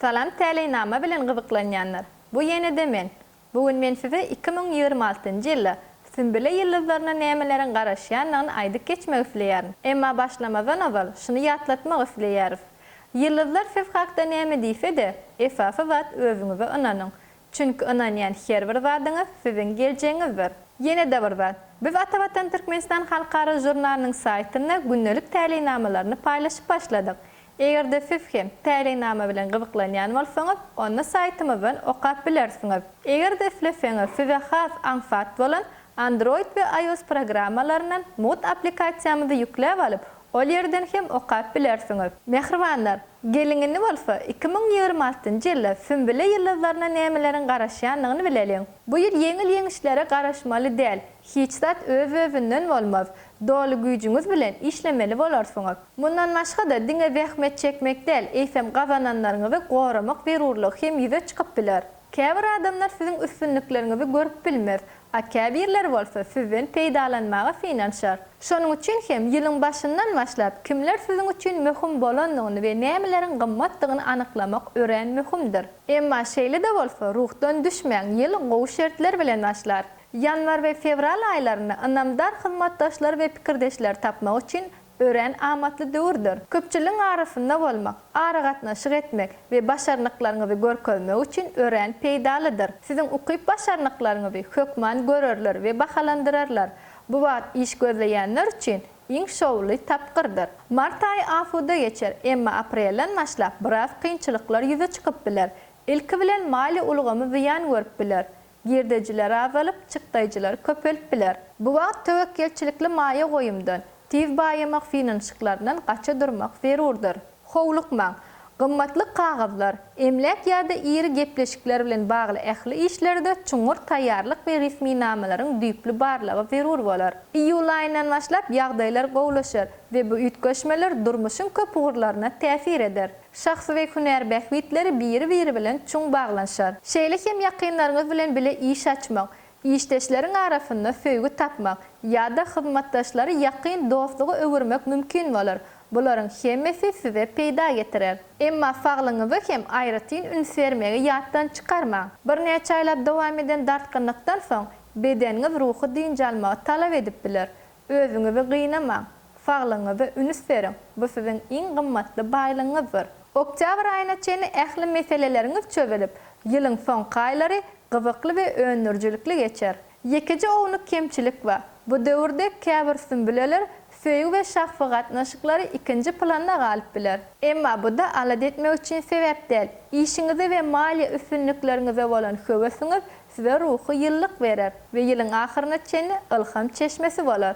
Salam täleýnama bilen gyzyklanýanlar bu ýenede men bu gün men size iki müň ýigrimi altynjy ýylda Sümbüle ýyldyzlaryna nämeleriň garaşýandygyny aýdyp geçmek isleýärin emma başlamazdan ozal şuny ýatlatmak isleýäris ýyldyzlar siz hakda näme diýsede esasy zat özüňize ynanyň Çünki ynanýan her bir zadyňyz siziň geljegiňizdir. Ýene-de bir zat, biz Atavatan Türkmenistan halkara žurnalynyň saýtynda gündelik täleýnamalaryny paýlaşyp başladyk. Eger-de siz hem täleýnama bilen gyzyklanýan bolsaňyz, onda saýtymyzdan okap bilersiňiz. Eger-de isleseňiz, size has aňsat bolan Android we iOS programmalaryndan Mood applikasiýamyzy ýükläp alyp, Ol ýerden hem okap bilersiňiz. Mähribanlar, geliň indi bolsa iki müň ýigrimi altynjy ýylda Sünbüle ýyldyzlaryna nämeleriň garaşýandygyny bileliň. Bu ýyl ýeňil-ýeňişlere garaşmaly däl. Hiç zat öz-özünden bolmaz. Doly güýjüňiz bilen işlemeli bolarsyňyz. Mundan başga-da diňe zähmet çekmek däl, eýsem gazananlaryňyzy goramak zerurlygy hem ýüze çykyp biler. Käbir adamlar siziň üstünlikleriňizi görüp bilmez, a käbirleri bolsa sizden peýdalanmaga synanyşar. Şonuň üçin hem ýylyň başyndan başlap kimler siziň üçin möhüm bolandygyny we nämeleriň gymmatdygyny anyklamak örän möhümdir. Emma şeýle-de bolsa, ruhdan düşmäň, ýyl gowy şertler bilen başlar. Ýanwar we fewral aýlarynda ynamdar hyzmatdaşlary we pikirdeşleri tapmak üçin Örän amatly döwürdir. Köpçüligiň arasynda bolmak, aragatnaşyk etmek we başarnyklaryňyzy görkezmek üçin örän peýdalydyr. Siziň ukyp-başarnyklaryňyzy hökman görerler we bahalandyrarlar. Bu wagt iş gözleýänler üçin iň şowly tapgyrdyr. Mart aýy asuda geçer, emma aprelden başlap biraz kynçylyklar ýüze çykyp biler. Ilki bilen maliýe ulgamy zyýan görüp biler. Girdejiler azalyp, çykdaýjylar köpelip biler. Bu wagt töwekgelçilikli maýa goýumdan, tiz baýamak finanşyklaryndan gaça durmak zerurdyr. Howlukmaň! Gymmatly kagyzlar, emläk ýa-da iri gepleşikler bilen bagly ähli işlerde çuňňur taýýarlyk we resminamalaryň düýpli barlagy zerur bolar. Iýul aýyndan başlap ýagdaýlar gowulaşar we bu üýtgeşmeler durmuşyň köp ugurlaryna täsir eder. Şahsy we hünär bähbitleri biri-biri bilen çuň baglanyşar. Şeýle hem ýakynlaryňyz bilen bile iş açmak, işdeşleriň arasynda söýgi tapmak ýa-da hyzmatdaşlary ýakyn dostluga öwürmek mümkin bolar. Bularyň hemmesi size peýda getirer. Emma saglygyňyza hem aýratyn üns bermegi ýatdan çykarmaň. Birnäçe aýlap dowam eden dartgynlykdan soň, bedeniňiz ruhy dynç almagy talap edip biler. Özüňizi gynamaň, saglygyňyza ünüs beriň, bu siziň iň gymmatly baýlygyňyzdyr. Oktýabr aýyna çenli ähli meseleleriňiz çözülip, ýylyň soňky aýlary gyzykly we öndürijilikli geçer. Ýekeje ownuk kemçilik bar, bu döwürde käbir sünbüleler söýgi we şahsy gatnaşyklary ikinji planda galyp biler. Emma bu-da alada etmek üçin sebäp däl. Işiňize we maliýe üstünlikleriňize bolan höwesiňiz Size ruhy ýylylyk berer we ýylyň ahyryna çenli ylham çeşmesi bolar.